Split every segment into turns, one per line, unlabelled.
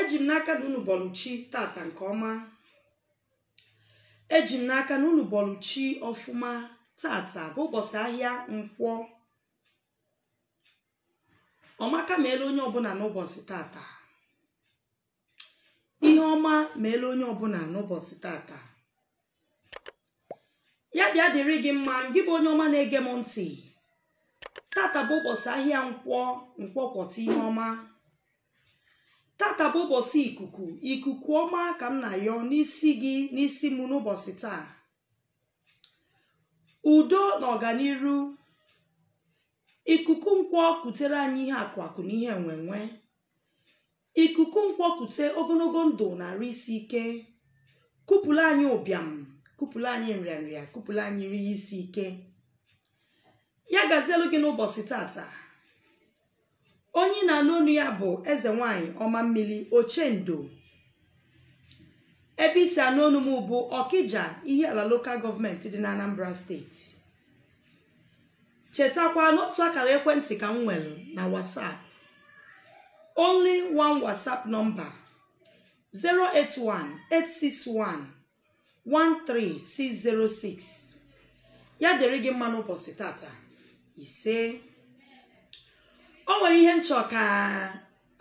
eji m n'aka na unu bọlụ chi tata nke ọma eji m n'aka na unu bọlụ chi ọfụma tata bụ ụbọchị ahịa nkwọ ọmaka meelụ onye ọbụla n'ụbọchị tata ihe ọma meela onye ọbụla n'ụbọchị tata ya bịa dịrị gị mma gị bụ onye ọma na-ege m ntị tata bụ ụbọchị ahịa nkwọ nkwọ kwọta ihe ọma tata bụ ụbọchị ikuku ikuku ọma ka m na-ayọ n'isi gị n'isi m n'ụbọchị taa udo na ọganiru ikuku nkwọ kutere anyị ihe akụ akụ na ihe enwenwe ikuku nkwọ kute ogologo ndụ na arụ isi ike kupụlụ anyị ụbịam kupụlụ anyị nrịanrịa kupụlụ anyị ihe isi ike ya gazielu gị n'ụbọchị tata onye na-anụ onu ya bụ eze nwanyị ọma mmiri ochendo ebe i si anụ onu m bụ ọkija ihiala lokal gọọmenti dị na anambra steeti chetakwa n'otu akara ekwentị ka m nwere na whatsapp only one whatsapp number 081-861-13606 ya dịrị gị mma n'ụbọchị tata isee o nwere ihe m chọ ka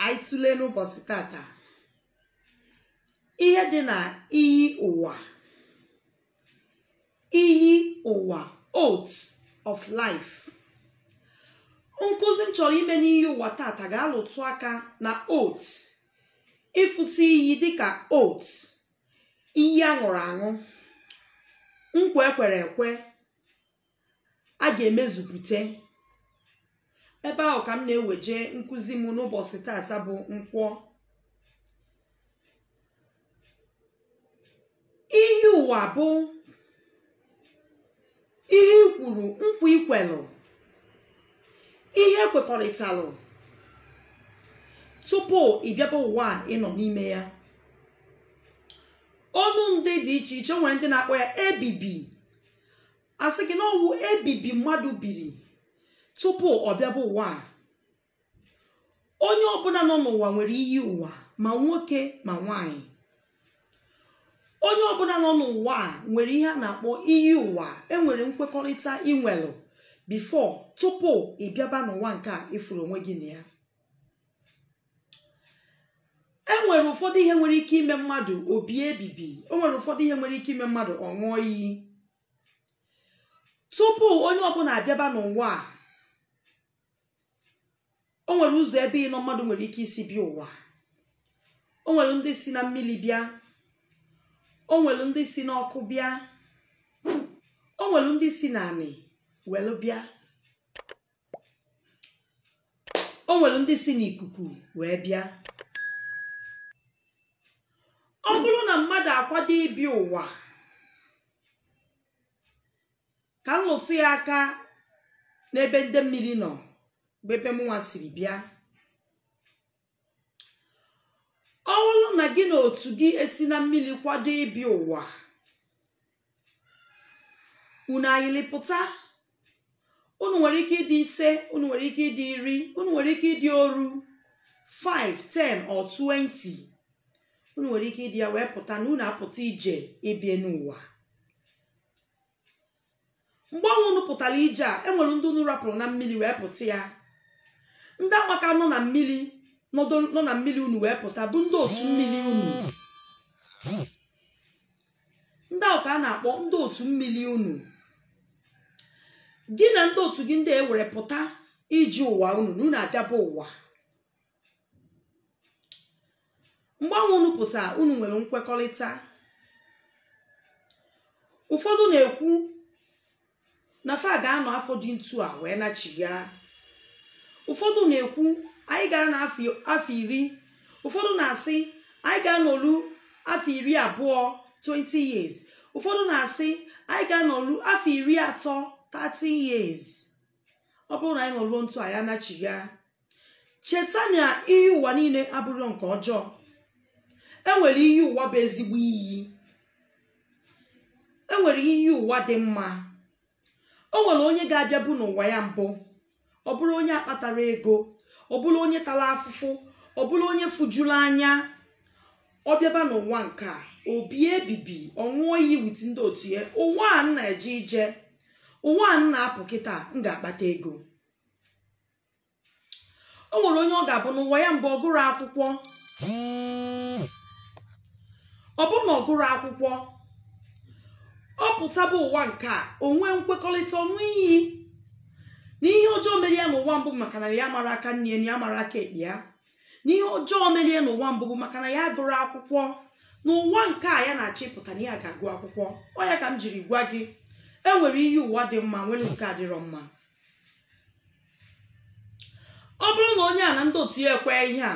anyị tụlee n'ụbọchị tata ihe dị na iyi ụwa iyi ụwa oath of life nkụzi m chọrọ ime n'iyi ụwa tata ga-alụtụ aka na oath ịfụta iyi dịka oath iyi a ṅụrụ aṅụ nkwa e kwere ekwe a ga-emezupụta ebe ahụ ka m na-eweje nkụzi m n'ụbọchị tata bụ nkwọ iyi ụwa bụ ihe i kwuru nkwa i kwelu ihe i kwekọrịtalụ tupu ị bịaba ụwa a ị nọ n'ime ya onu ndị dị iche iche nwere ndị na-akpọ ya ebibi a sị gị na ọ wụ ebibi mmadụ biri tupu ọ bịaba ụwa a onye ọbụla nọ n'ụwa nwere iyi ụwa ma nwoke ma nwanyị onye ọbụla nọ n'ụwa a nwere ihe a na-akpọ iyi ụwa enwere nkwekọrịta i nwelu before tupu ị bịaba n'ụwa nke a ị fụrụ onwe gị na ya enwere ụfọdụ ihe nwere ike ime mmadụ o bie ebibi enwere ụfọdụ ihe nwere ike ime mmadụ ọ ṅụọ iyi tupu onye ọbụla abịaba n'ụwa a o nwere ụzọ ebe ịnọ mmadụ nwere ike isi bịa ụwa o nwere ndị si na mmiri bịa o nwere ndị si n'ọkụ bịa o nwere ndị si na anị welu bịa o nwere ndị si n'ikuku wee bịa ọ bụrụ na mmadụ akwado ịbịa ụwa ka m lụtụ ya aka n'ebe ndị mmiri nọ bụ ebe mụnwa siri bịa ọ bụrụ na gị na otu gị esi na mmiri kwado ịbịa ụwa unu ayịlịpụta unu nwere ike ịdị ise unu nwere ike ịdị iri unu nwere ike ịdị oru 5 10 or 20 unu nwere ike ịdị ya wee pụta na unu apụta ije ịbịa n'ụwa mgbe ahụ unu pụtara ije a enwere ndị unu rapụrụ na mmiri wee pụta ya ndị ahụ ka nọ na mmiri nọdụ- nọ na mmiri unu wee pụta bụ ndị otu mmiri unu ndị ahụ ka a na-akpọ ndị otu mmiri unu gị na ndị otu gị ndị ewere pụta ije ụwa unu na unu abịaba ụwa mgbe ahụ unu pụta unu nwere nkwekọrịta ụfọdụ na-ekwu na fa ga-anọ afọ dị ntu a wee nachigha ụfọdụ na-ekwu anyị ga-anọ afọ iri ụfọdụ na-asị anyị ga-anọlu afọ iri abụọ 20 years ụfọdụ na-asị anyị ga-anọlu afọ iri atọ 30 years ọ bụrụ na anyị nọruo ntu a anyị anachigha cheta na iyi ụwa niile abụrọ nke ọjọọ enwere iyi ụwa bụ ezigbo iyi enwere iyi ụwa dị mma o nwere onye ga-abịabu n'ụwa ya mbụ ọ bụrụ onye akpatarọ ego ọ bụrụ onye tara afụfụ ọ bụrụ onye fujuru anya ọ bịaba n'ụwa nke a obi ebibi ọ ṅụọ iyi with ndị otu ya ụwa a m na-eje ije ụwa a m na-apụ kịta m ga-akpata ego o nwere onye ọ ga-abụ n'ụwa ya mbụ ọ gụrọ akwụkwọ ọ bụrụ na ọ gụrọ akwụkwọ ọ pụtaba ụwa nke a o nwee nkwekọrịta ọ ṅụọ iyi na ihe ọjọọ mere ya n'ụwa mbụ maka na ya amarọ aka nni ya mara aka ekpe ya na ihe ọjọọ mere ya n'ụwa mbụ bụ maka na ya agụrọ akwụkwọ n'ụwa nke a ya na-achọ ịpụta na ya ga-agụ akwụkwọ ọ ya ka m jiri gwa gị enwere iyi ụwa dị mma nwere nke adịrọ mma ọ bụrụ na onye a na ndị otu ya ekwe ihe a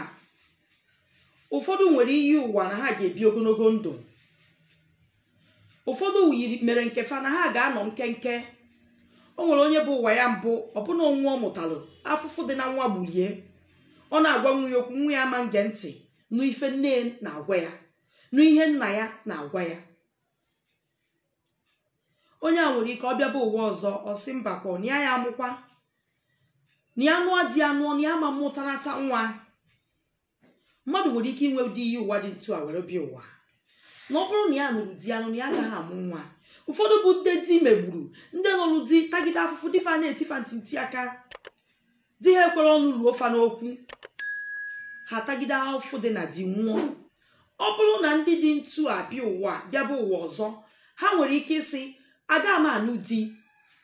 ụfọdụ nwere iyi ụwa na ha ga-ebi ogologo ndụ ụfọdụ yiri mere nke fa na ha ga-anọ nkenke o nwere onye bụ ụwa ya mbụ ọbụna onwe ọ mụtalụ afụfụ dị na nwa gbulie ọ na-agwa nwa ya okwu nwa ya ama nge ntị nụ ife nne na-agwa ya nụ ihe nna ya na-agwa ya onye a nwere ike ọ bịaba ụwa ọzọ ọ sị mbakwa na ya amụkwa na ya nụọ di ya nụọ na ya ama mụtanata nwa mmadụ nwere ike inwe ụdị iyi ụwa dị ntu a were bịa ụwa na ọ bụrụ na ya nụrụ di ya nụ na ya agaghị amụ nwa ụfọdụ bụ ndị di megburu ndị nụrụ di tagide afụfụ di fa na-eti fa ntị aka di ha ekwerọ ọnụ ruo fa n'okwu ha tagide afụfụ dị na di nwụọ ọ bụrụ na ndị dị ntu a bịa ụwa bịaba ụwa ọzọ ha nwere ike ịsị aga m anụ di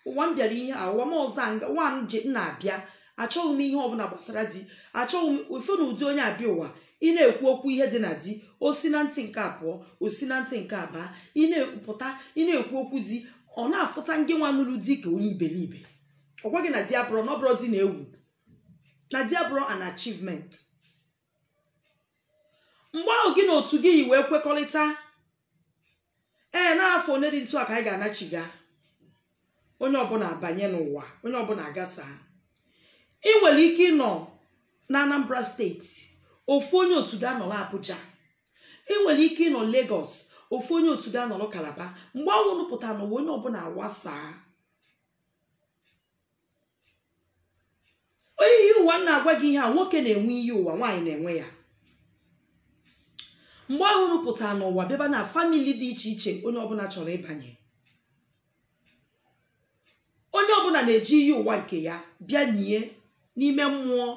ụwa m bịara ihe a ụwa m ọzọ a nga- ụwa m ji m na-abịa achọghị m ihe ọbụla gbasara di achọghị m ị fụ na ụdị onye a bịa ụwa ị na-ekwu okwu ihe dị na di o si na ntị nke abụọ o si na ntị nke abụọ ị na-ekwupụta ị na-ekwu okwu di ọ na-afụta ngị nwa nụrụ di ka onye iberibe ọ gwa gị na di abụrọ na ọ bụrọ di na-ewu na di abụrọ an achievement mgbe ahụ gị na otu gị yi wee kwekọrịta ee n'afọ one dị ntu a ka anyị ga-anachiga onye ọbụla abanye n'ụwa onye ọbụla agasa ị nwere ike ịnọ na anambra state ofu onye otu gị anọrọ abuja ị nwere ike ịnọ lagos ofu onye otu gị anọrọ kalaba mgbe ahụ unu pụta n'ụwa onye ọbụla awasaa onye iyi ụwa m na-agwa gị ihe a nwoke na-enwe iyi ụwa nwaanyị na-enwe ya mgbe ahụ unu pụta n'ụwa bịaba na famili dị iche iche onye ọbụla chọrọ ịbanye onye ọbụla na-eji iyi ụwa nke ya bịa nie n'ime mmụọ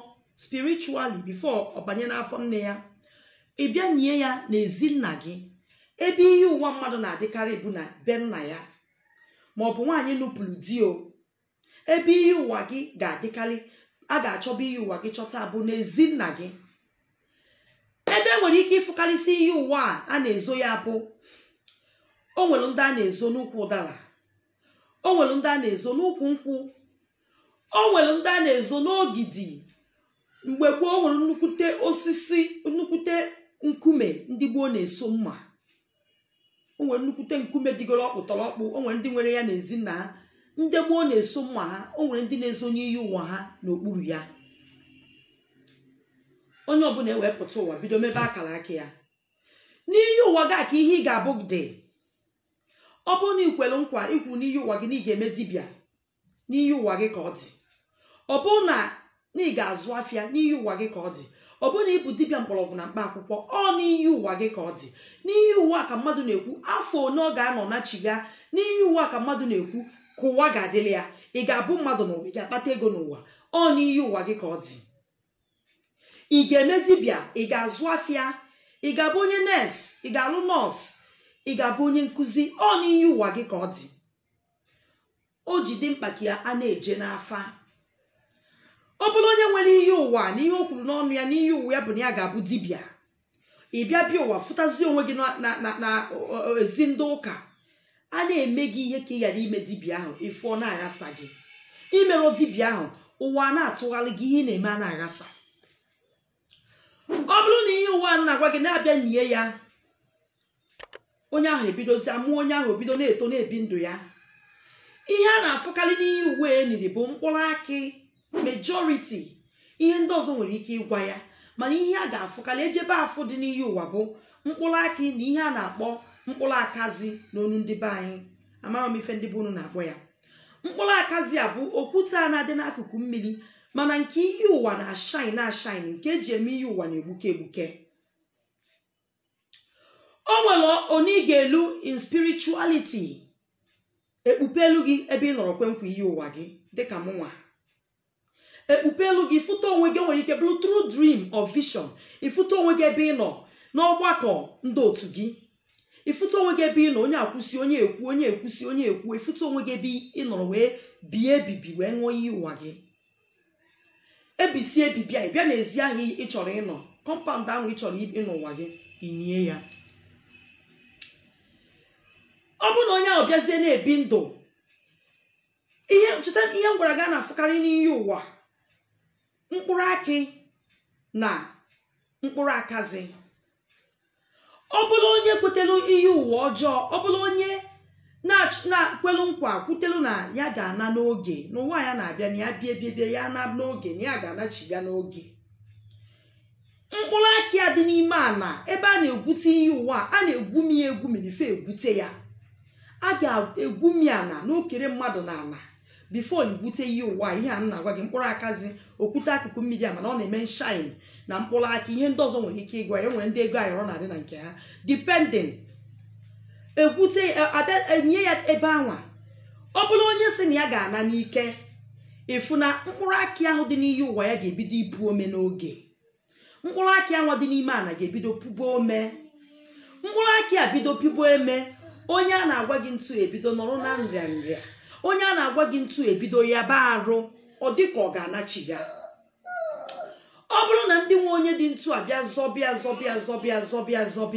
spiritually before ọ banye n'afọ nne ya ị bịa nie ya n'ezi nna gị ebe iyi ụwa mmadụ na-adịkarị bụ na be nna ya ma ọ bụ nwaanyị nụpụrụ di o ebe iyi ụwa gị ga-adịkarị a ga-achọba iyi ụwa gị chọta bụ n'ezi nna gị ebe e nwere ike ịfụkarịsị iyi ụwa a a na-ezo ya bụ o nwere ndị a na-ezo n'ukwu ụdara o nwere ndị a na-ezo n'ukwu nkwụ o nwere ndị a na-ezo n'ogidi mgbe gboo o nwere nnukwute osisi nnukwute nkume ndị gboo na-eso mma o nwere nnukwute nkume dịgoro ọkpụtọrọkpụ o nwere ndị nwere ya n'ezi nna ha ndị gboo na-eso mma ha o nwere ndị na-ezonye iyi ụwa ha n'okpuru ya onye ọbụla ewee pụta ụwa bido mebe akara aka ya n'iyi ụwa gị a ka ihe ị ga-abụ dị ọ bụrụ na i kwere nkwa i kwuru n'iyi ụwa gị na ị ga-eme dibịa n'iyi ụwa gị ka ọ dị ọ bụrụ na na ị ga-azụ afịa n'iyi ụwa gị ka ọ dị ọ bụrụ na ị bụ dibịa mgbọrọgwụ na mkpa akwụkwọ ọ n'iyi ụwa gị ka ọ dị n'iyi ụwa ka mmadụ na-ekwu afọ one ọ ga-anọ nachiga n'iyi ụwa ka mmadụ na-ekwu ka ụwa ga-adịrị ya ị ga-abụ mmadụ n'ụwa ị ga-akpata ego n'ụwa ọ n'iyi ụwa gị ka ọ dị ị ga-eme dibịa ị ga-azụ afịa ị ga-abụ onye nọọsụ ị ga-alụ nọọsụ ị ga-abụ onye nkụzi ọ n'iyi ụwa gị ka ọ dị o ji dị mkpa ka ya a na-eje n'afa ọ bụrụ onye nwere iyi ụwa na ihe o kwuru n'ọnụ ya n'iyi ụwa ya bụ na ya ga-abụ dibịa ị bịa bịa ụwa fụtazie onwe gị na- na- na- na ọ- ọ- ezi ndị ụka a na-eme gị ihe ka ị ghara ime dibịa ahụ ịfụ ọ na-aghasa gị imerọ dibịa ahụ ụwa a na-atụgharị gị ihe ị na-eme a na-aghasa ọ bụrụ na iyi ụwa m na-agwa gị na a bịa nyie ya onye ahụ ebidozi amụọ onye ahụ ebido na-eto na-ebi ndụ ya ihe a na-afụkarị n'iyi ụwa eniri bụ mkpụrụ akị majority ihe ndị ọzọ nwere ike ịgwa ya mana ihe a ga-afụkarị ejebe afụ dị n'iyi ụwa bụ mkpụrụ akị na ihe a na-akpọ mkpụrụ akazi n'onu ndị be anyị amarọ m ife ndị be unu na-akpọ ya mkpụrụ akazi a bụ okwute a na-adị n'akụkụ mmiri mana nke iyi ụwa na-ashine na-ashine nke eji eme iyi ụwa na-egbuke egbuke o nwere onye ị ga-elu in spirituality ekpupeelu gị ebe ị nọrọ kwe nkwa iyi ụwa gị dịka mụnwa ekpupeelu gị ịfụta onwe gị nwere ike bụrụ through dream or vision ịfụta onwe gị ebe ị nọ n'ọgbakọ ndị otu gị ịfụta onwe gị ebe ị nọ onye a kwusi onye ekwu onye ekwusi onye ekwu ịfụta onwe gị ebe ị nọrọ wee bie ebibi wee ṅụọ iyi ụwa gị ebisi ebibi a bịa n'ezi ahụ ị chọrọ ịnọ kọmpaụnd ahụ ị chọrọ ịnọ ụwa gị inie ya ọ bụrụ na onye ahụ bịazie na-ebi ndụ cheta ihe m gwara gị a na-afụkarị n'iyi ụwa mkpụrụ akị na mkpụrụ akazi ọ bụrụ onye kwetelu iyi ụwa ọjọọ ọ bụrụ onye na-ach- na- kwelu nkwa kwutelu na ya ga-ana n'oge n'ụwa ya na-abịa na ya bie bie bie ya na n'oge na ya ga-anachiga n'oge mkpụrụ akị a dị n'ime ana ebe a na-egwute iyi ụwa a na-egwumi ya egwumi before egwute ya a ga-egwumi ana n'okere mmadụ na ana before igwute iyi ụwa ihe a m na-agwa gị mkpụrụ akazi okwute akụkụ mmiri a mana ọ na-eme nshine na mkpụrụ akị ihe ndị ọzọ nwere ike ịgwa ya o nwere ndị ego ayọrọ na-adị na nke ha depending ekwute enye ya ebe anwa ọ bụrụ onye sị na ya ga-ana n'ike ịfụ na mkpụrụ akị ahụ dị n'iyi ụwa ya ga-ebido ipu ome n'oge mkpụrụ akị anwa dị n'ime ana ga-ebido pụba ome mkpụrụ akị a bido pụba ome onye a na-agwa gị ntu ebido nọrọ na nrịa nrịa onye a na-agwa gị ntu ebido yaba arụ ọ dị ka ọ ga-anachigha ọ bụrụ na ndị nwe onye dị ntu a bịa zọba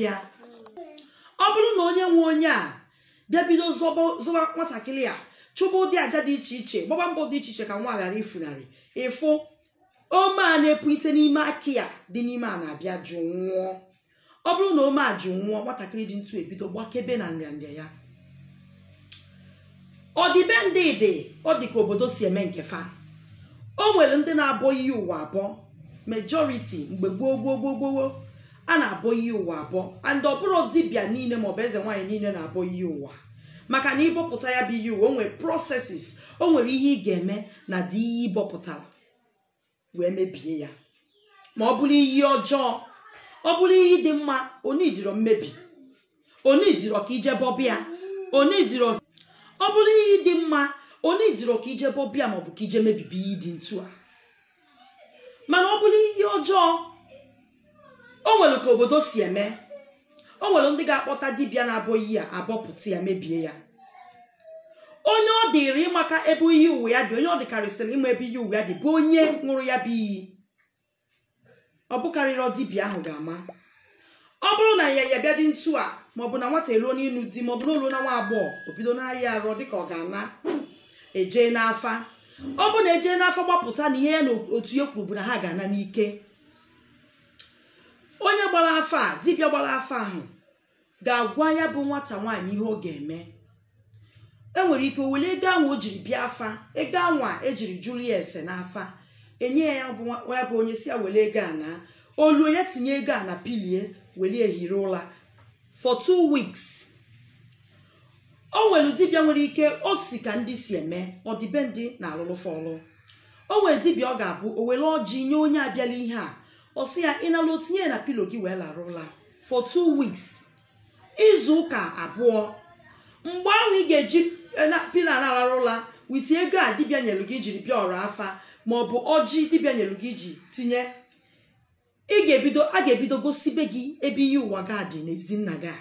ya ọ bụrụ na onye nwe onye a bịa bido zọba zọba nwatakịrị a chụba ụdị aja dị iche iche gbaba mbọ dị iche iche ka nwa ghara ifunarị ịfụ ome a na-epulite n'ime akị a dị n'ime ana abịa jụnwụọ ọ bụrụ na ome a jụnwụọ nwatakịrị dị ntu ebido gbakebe na nrịanrịa ya ọdịbendị dị ọ dị ka obodo si eme nke fa o nwere ndị na-abọ iyi ụwa abọ majority mgbe gboo gboo gboo gboo a na-abọ iyi ụwa abọ and ọ bụrọ dibịa niile maọbụ eze nwaanyị niile na-abọ iyi ụwa maka na ịbọpụta ya bụ iyi ụwa o nwere processes o nwere ihe ị ga-eme n'ụdị iyi ị bọpụtara wee mebie ya ma ọ bụrụ iyi ọjọọ ọ bụrụ iyi dị mma o nwedịrọ mmebi o nwedịrọ ka i je bọba ya o nwedịrọ ọ bụrụ iyi dị mma o nwedịrọ ka i je bọba ya maọbụ ka i je mebibe iyi dị ntu a mana ọ bụrụ iyi ọjọọ o nwere ka obodo si eme o nwere ndị ga-akpọta dibịa na-abọ iyi a abọpụta ya mebie ya onye ọ dịrị ịmaka ebe iyi ụwa ya dị onye ọ dịkarịsịrị ịma ebe iyi ụwa ya dị bụ onye ṅụrụ ya bụ iyi ọ bụkarịrọ dibịa ahụ ga-ama ọ bụrụ na ya ya bịa dị ntu a maọbụ na nwata eruo n'ịnụ di maọbụ na o lu na nwa agbọghọ o bido na-arịa arụ dịka ọ ga-ana e jee n'afa ọ bụ na e jee n'afa gbapụta na ihe ya na otu ya kwuru bụ na ha ga-ana n'ike onye gbara afa a dibịa gbara afa ahụ ga-agwa ya bụ nwata nwaanyị ihe ọ ga-eme e nwere ike were ego ahụ o jiri bịa afa ego anwa e jiri jụrụ ya ese n'afa enye ya bụ nwa ya bụ onye sị ya were ego a naa o luo ya tinye ego a na pillow ya were ehiri ụla for two weeks o nwere dibịa nwere ike o si ka ndị si eme ọdịbendị na-alụlụ fa ọlụ o nwere dibịa ọ ga-abụ o were ọjị nye onye a bịala ihe a ọ sị ya ị naluo tinye ya na pillow gị wee lara ụla for two weeks izu ụka abụọ mgbe ahụ ị ga-eji pillow na-arara ụla with ego a dibịa nyelu gị jiri bịa ọrụ afa ma ọ bụ ọjị dibịa nyelu gị ji tinye ị ga-ebido a ga-ebido gosibe gị ebe iyi ụwa gị dị n'ezi nna gị a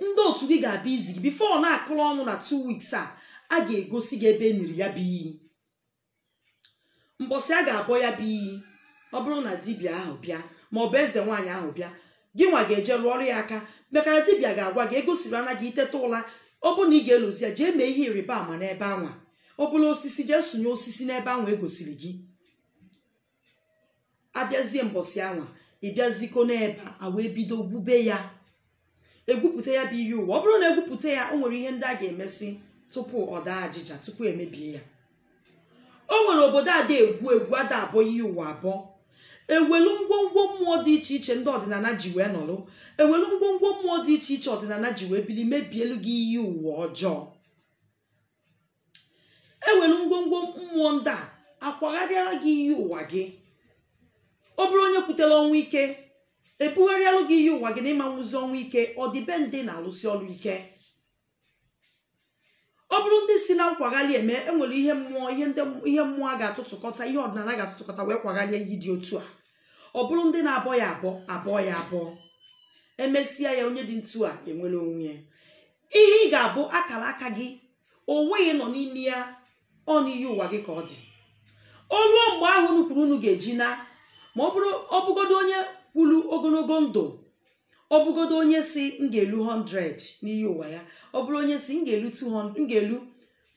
ndị otu gị ga-abịa izi gị before na-akụrụ ọnụ na two weeks a a ga-egosi gị ebe e niri ya bụ iyi mbọsị a ga-abọ ya bụ iyi ọ bụrụ na dibịa ahụ bịa ma ọ bụ eze nwaanyị ahụ bịa gị nwa ga-eje rụọrọ ya aka maka na dibịa ga-agwa gị egosiri ana gị ị teta ụla ọ bụrụ na ị ga-elozọ ya jee mee ihe ịrịba ama n'ebe anwa ọ bụrụ osisi jee sụnye osisi n'ebe anwa e gosiri gị abịazie mbọsị anwa ịbịaziko n'ebe a wee bido gwube ya egwupụta ya bụ iyi ụwa ọ bụrụ na egwupụta ya o nwere ihe ndị a ga-emesị tupu ọ daa ajịja tupu emebie ya o nwere obodo ada egwu egwu ada abọ iyi ụwa abọ ewelu ngwongwo mmụọ dị iche iche ndị ọdịnala ji wee nọrọ ewelu ngwongwo mmụọ dị iche iche ọdịnala ji wee bili mebielu gị iyi ụwa ọjọọ ewere ngwongwo mmụọ ndị a akwagharịara gị iyi ụwa gị ọ bụrụ onye kwutere ọnwụ ike ebugharịalụ gị iyi ụwa gị na ị ma nwụzi ọnwụ ike ọ dị be ndị na-alụsi ọrụ ike ọ bụrụ ndị si na nkwagharị eme enwere ihe mmụọ ihe ndị ihe mmụọ a ga-atụtụkọta ihe ọdịnala ga-atụtụkọta wee kwagharịa iyi dị otu a ọ bụrụ ndị na-abọ ya abọ abọ ya abọ emesịa ya onye dị ntu a enwere onwe ya ihe ị ga-abụ akara aka gị ụwa ị nọ n'ime ya ọ n'iyi ụwa gị ka ọ dị o luo mgbe ahụ unu kwuru unu ga-eji na ma ọ bụrụ ọ bụgodo onye kwuru ogologo ndụ ọ bụgodo onye sị m ga-elu 100 n'iyi ụwa ya ọ bụrụ onye sị m ga-elu 200 m ga-elu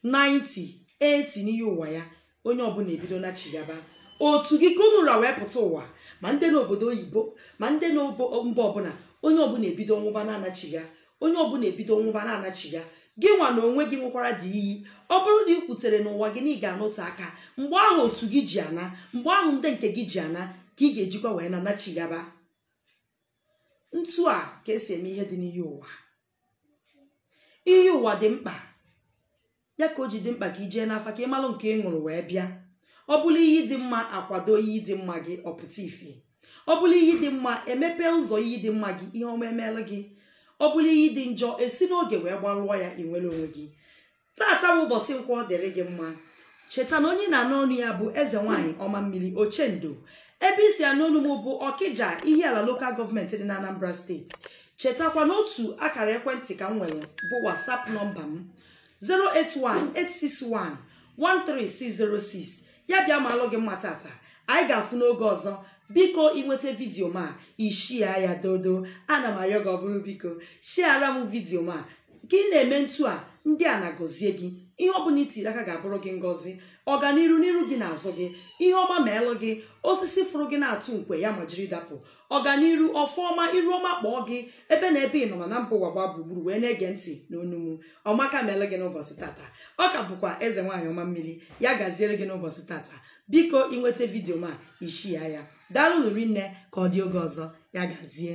90 80 n'iyi ụwa ya onye ọbụla ebido nachigaba otu gị ka unu ra wee pụta ụwa ma ndị n'obodo oyibo ma ndị n'obo mba ọbụla onye ọbụla ebido nwụba na-anachiga onye ọbụla ebido nwụba na-anachiga gị nwa na onwe gị ṅụkwara ụdị iyi ọ bụrụ na ị kwutere n'ụwa gị na ị ga-anọte aka mgbe ahụ otu gị ji ana mgbe ahụ ndị nke gị ji ana ka ị ga-ejikwa wee na-anachigaba ntu a ka esi eme ihe dị n'iyi ụwa iyi ụwa dị mkpa ya ka o ji dị mkpa ka i jee n'afa ka ị malụ nke ị ṅụrụ wee bịa ọ bụrụ iyi dị mma akwado iyi dị mma gị ọ pụta ife ọ bụrụ iyi dị mma emepe ụzọ iyi dị mma gị ihe ọma emeelụ gị ọ bụrụ iyi dị njọ esi n'oge wee gbarụọ ya ị nwere onwe gị tata bụ ụbọchị nkwọ dịrị gị mma cheta na onye na-anụ onu ya bụ eze nwaanyị ọma mmiri ochendo ebe i si anụ onu m bụ ọkịja ihiala lokal gọọmenti dị na anambra steeti chetakwa n'otu akara ekwentị ka m nwere bụ whatsapp nọmba m 081-861-13606 ya bịa maalụ gị mma tata anyị ga-afụ n'oge ọzọ biko i nweta vidiyo m a i shia ya dodo ana m arịọ gị ọ bụrụ biko shiara m vidiyo m a ka ị na-eme ntu a ndị a na-agọzie gị ihe ọ bụla i tiri aka ga-abụrụ gị ngọzi ọganiru n'iru gị n'azụ gị ihe ọma meelụ gị osisi fụrụ gị na-atụ nkwe ya ma jiri dapụ ọganiru ọfọ ọma iru ọma kpọọ gị ebe na ebe ị nọ na mba ụwa gbaa gburugburu wee na-ege ntị n'onu m ọmaka meelụ gị n'ụbọchị tata ọ ka bụkwa eze nwaanyị ọma mmiri ya gaziere gị n'ụbọchị tata biko i nweta vidiyo m a i shia ya daalụ rinne ka ọ dị oge ọzọ ya gazie